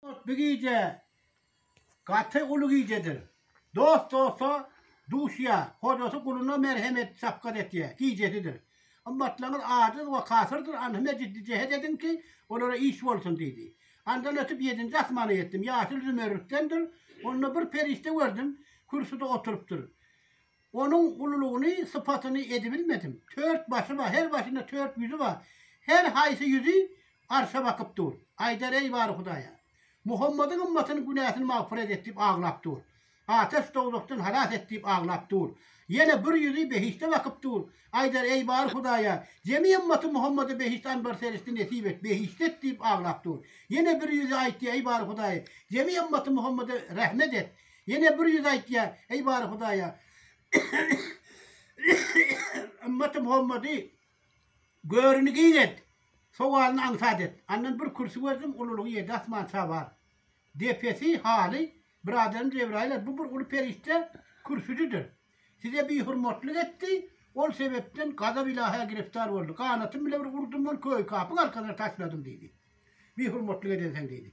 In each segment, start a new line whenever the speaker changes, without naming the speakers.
Bu gije gaty uly gijedir. Dost dosta duşýa, hojasy guluna merhem et, şapgat etýä gijesidir. Ymmatlaryňyz ajiz we kafirdir, anhme ciddi jehet ediň ki, olara iş bolsun diýdi. Andan ötüp ýedinji asmana ýetdim, ýaşyl zümerrütdendir, onda bir perişde gördüm, kürsüde oturypdyr. Onuň ululygyny, sypatyny edibilmedim. Tört başy bar, her başynda tört ýüzi bar. Her haýsy ýüzi arşa bakyp dur. Aýdar, Eý, Bary Hudaýa! Muhammadyň ymmatynyň günäsini magfyret et diýip aglap dur. Ataş dowzahdan halas et diýip aglap dur. Ýene bir ýüzi behişde bakyp dur. Aýdar, Eý, Bary Hudaýa! Jemi ymmaty Muhammada behişt anbar-serişdi nesip et, behişde et diýip aglap dur. Ýene bir ýüzi aýtdy, Eý, Bary Hudaýa! Jemi ymmaty Muhammada rehmet et. Ýene bir ýüz aýtýa, eý Bary Hudaýa! Ymmaty Muhammady görini giň et, sowalyny aňsat et. Andan bir kürsi gördüm, ululygy ýedi asman çabar. Depesi, haly, Byradary Jebraýyl-a, bu bir uly perişde kürsüdidir. Size bihurmatlyk etdi, ol sebepden gazap Ylahy-a giriftar boldy. Ganatym bilen bir urdum ol köýkapyň arkasyna taşladym diýdi. Bihurmatlyk edensiň diýdi.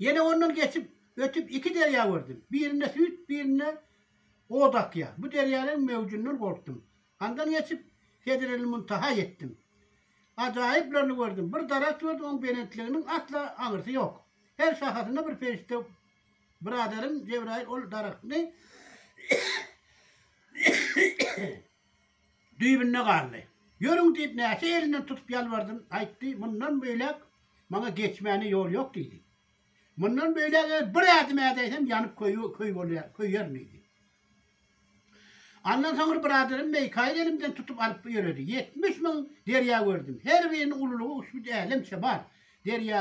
Ýene ondan geçip, ötüp iki derýa gördüm. Birinde süýt, birinde ot akýar. Bu derýalaryň möwjünden gorkdum. Andan geçip, Sedrelmuntaha ýetdim. Ajaýyplaryny gördüm. Bir daragt gördüm, onuň belentliginiň asla aňyrsy ýok. Her şahasynda bir perişde Byradarym Jebraýyl ol daragtny düýbünde galdy. Ýörüň diýip näçe elinden tutup ýalbardym, aýtdy, mundan beýläk maňa geçmäne ýol ýok diýdi. Mundan beýläk eger bir ädim ädäýsem ýanyp köýerin diýdi. Andan soňra biraderim Meýkaýyl elimden tutup alyp ýöredi. Ýetmiş müň derýa gördüm. Her biriniň ululygy uçbüt älemçe bar. Derýa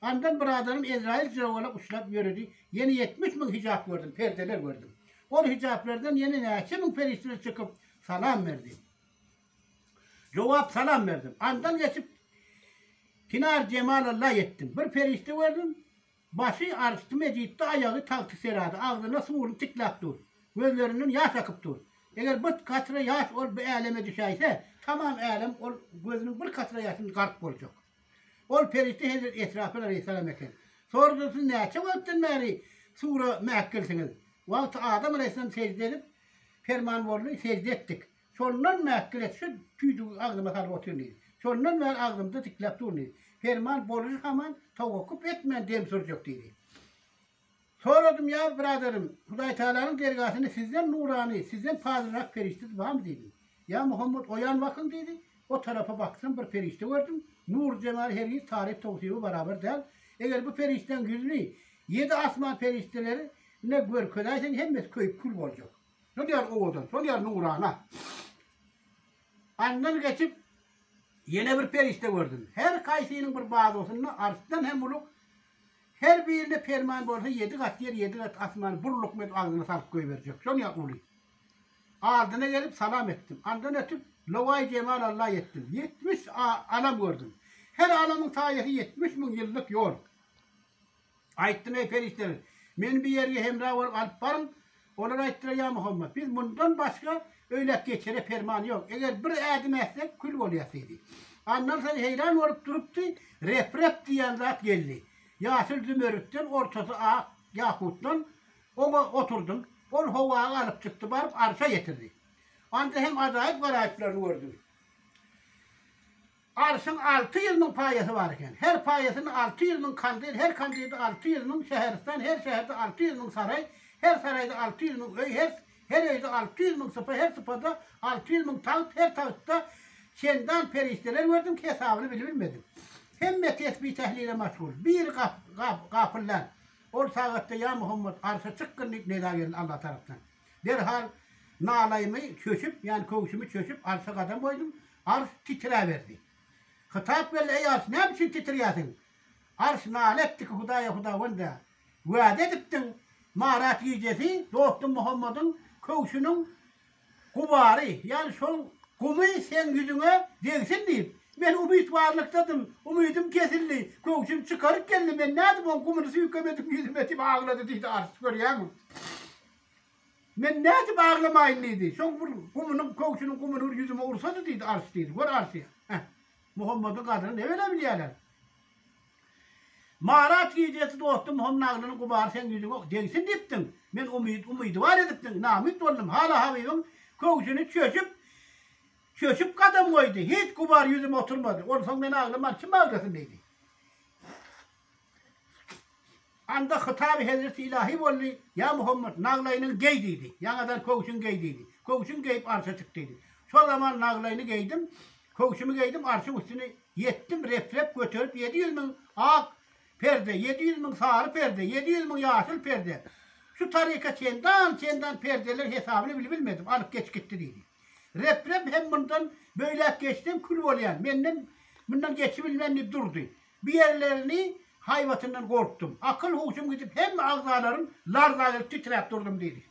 Andan bir adamym Ezraýyl jogala uçrap ýöredi, ýene ýetmiş müň hijap gördüm, perdeler gördüm. Ol hijaplardan ýene näçe müň perişdeler çykyp, salam berdi. Jogap, Salam berdim. Andan geçip, Kinar Jemal Alla ýetdim. Bir perişde gördüm, başy Arşdy Mejitde, aýagy Tagty Serada, agzyna suwuny tikläp dur. Gözlerinden ýaş akyp dur. Eger bir katra ýaş ol bu äleme düşäýse, tamam älem ol gözüniň bir katra ýaşyny gark boljak. Ol perişde hezret Esrafyl aleýhissalam eken. Sordy, Siz näçe wagtdan bäri Sura mäkgilsiňiz? Wagty Adam aleýhissalam sežde edip, perman boldy, sežde etdik. Şondan mäkgil et, şu tüýdügi agzyma salyp otyryn diýdi. Şondan bäri agzymda dikläp durun diýdi. Perman bolujy haman, Towakkup etmän dem sürjek diýdi. Soradym, Ýa biraderim, Hudaýtagalanyň dergasyny sizden nurany, sizden pazylrak perişdesi barmy? diýdim. Ýa Muhammet, oýan bakyň, diýdi. O tarapa baksam, bir perişde gördüm. Nury jemaly hergiz taryp towsibe barabar däl. Eger bu perişdäň ýüzüni ýedi asman perişdeleri ne görkezäýseň, hemmesi köýüp-kül boljak. Şol ýaly owadan, şol ýaly nurana. Andan geçip, ýene bir perişde gördüm. Her kaýsynyň bir bazosynda arsdan hem uly Her birine perman bolsa ýedi gat ýer, ýedi gat asman bir lukmet agzyna salyp goýberjek. Şonýa uly. Aldyna gelip salam etdim. Andan ötüp, lowaý jemal Alla etdim. Ýetmiş alam gördüm. Her alamyň saýasy ýetmiş müň ýyllyk ýol. Aýtdym, eý, perişdeler, meni bu ýerge hemra bolup alyp baryň, Olar aýtdylar, Ýa Muhammet, biz mundan başga öýläp geçere perman ýok. Eger bir ädim ätsek, kül bolýas diýdi. Annar sen heýran bolup durupdy, rep-rep diýýän zat geldi. Ýaşyl zümerritden, ortasy ak ýakutdan oňa oturdym. Ol howaga alyp çykdy, baryp arşa ýetirdi. Anda hem ajaýyp garaýyplaryny gördüm. Arşyň alty ýüz müň paýasy bar eken. Her paýasynda alty ýüz müň kandil, her kandilde alty ýüz müň şäheristan, her şäherde alty ýüz müň saraý, her saraýda alty ýüz müň öý, her her öýde alty ýüz müň sypa, her sypada alty ýüz müň tagt, her tagtda çendan perişdeler gördüm, hesabyny bilibilmedim. Hemme tesbi-tehlile maşgul. Biri gap, gap, gapyldan. Ol sagatda, Ýa Muhammet, arşa çykgyn diýip nida geldi Alla tarapdan. Derhal nalaýymy çöşüp, ýany köwşümi çöşüp, arşa gadam goýdum. Arş titräberdi. Hytap geldi, Eý, arş, näme üçin titrýärsiň? Arş nala etdi ki, Hudaý-a, Hudawend-ä, wäde edipdiň, Marat gijesi dostum Muhammadyň köwşüniň gubary, ýany şonuň gumy seň ýüzüňe degsin diýip. Men umytbarlykdadym, umydym kesildi. Köwşümi çykaryp geldim, men nädip oň gumyny süýkem edip ýüzüme diýip aglady diýdi arş, görýäňmi? Men nädip aglamaýyn diýdi. Soň bir gumunyň, köwşüniň gumuny bir ýüzüme ursady diýdi, Ars diýdi. Gör Arsy. Heh. Muhammediň gadryny nebele bilýärler. Marat gijesi dosty Muhammet aglynyň gubary seň ýüzüňe degsin diýipdiň. Men umyt, umydybar edipdiň. Namyt boldum. Hala Habibiň köwşüni çöçüp, çöçüp gadam goýdy. Hiç gubar ýüzüme oturmady. Onsoň men aglaman kim aglasyn diýdi. Anda hytaby hezreti ilahi boldy, Ýa Muhammet, naglaýynyňy geý diýdi. Ýaňadan köwşüňi geý diýdi. Köwşümi geýip arşa çyk diýdi. Şol zaman naglaýyny geýdim, köwşümi geýdim, arşyň üstüni ýetdim, rep-rep göterip ýedi ýüz müň ak perde, ýedi ýüz müň sary perde, ýedi ýüz müň ýaşyl perde, şu taryka çendan, çendan perdeler hesabyny bilip bilmedim, alyp geçip gitdi diýdi. Rep-rep hem mundan böýläk geçsem kül bolýan, menden mundan geçibilmen diýip durdy. Bu ýerlerini haýbatyndan gorkdum. Akyl-huşum gidip, hemme agzalarym larza gelip titräp durdum diýdi.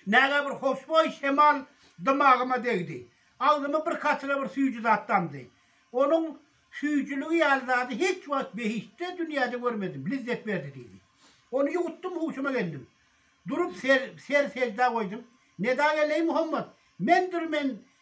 Näge bir hoşboý şemal dymagyma degdi. Agzyma bir katra bir süýji zat damdy. Onuň süýjüligi ýaly zady hiç wagt behiştde dünýäde görmedim, lizzet berdi diýdi. Ony ýuwutdym, huşuma geldim. Durup ser-sejda goýdum. Neda geleý Muhammet, mendir men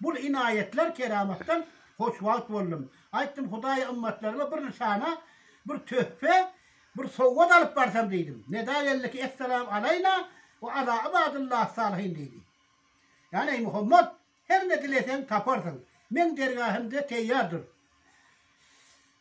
Bul inaýetler keramatdan hoşwagt boldum. Aýtdym Hudaýa ymmatlaryma bir nyşana, bir töhpe, bir sowgat alyp barsam diýdim. Neda geldi ki Esselam alaýna we ala ibadillah salihin diýdi. Ýani eý Muhammad, her ne dileseň taparsyň. Meň dergähimde teýýar dur.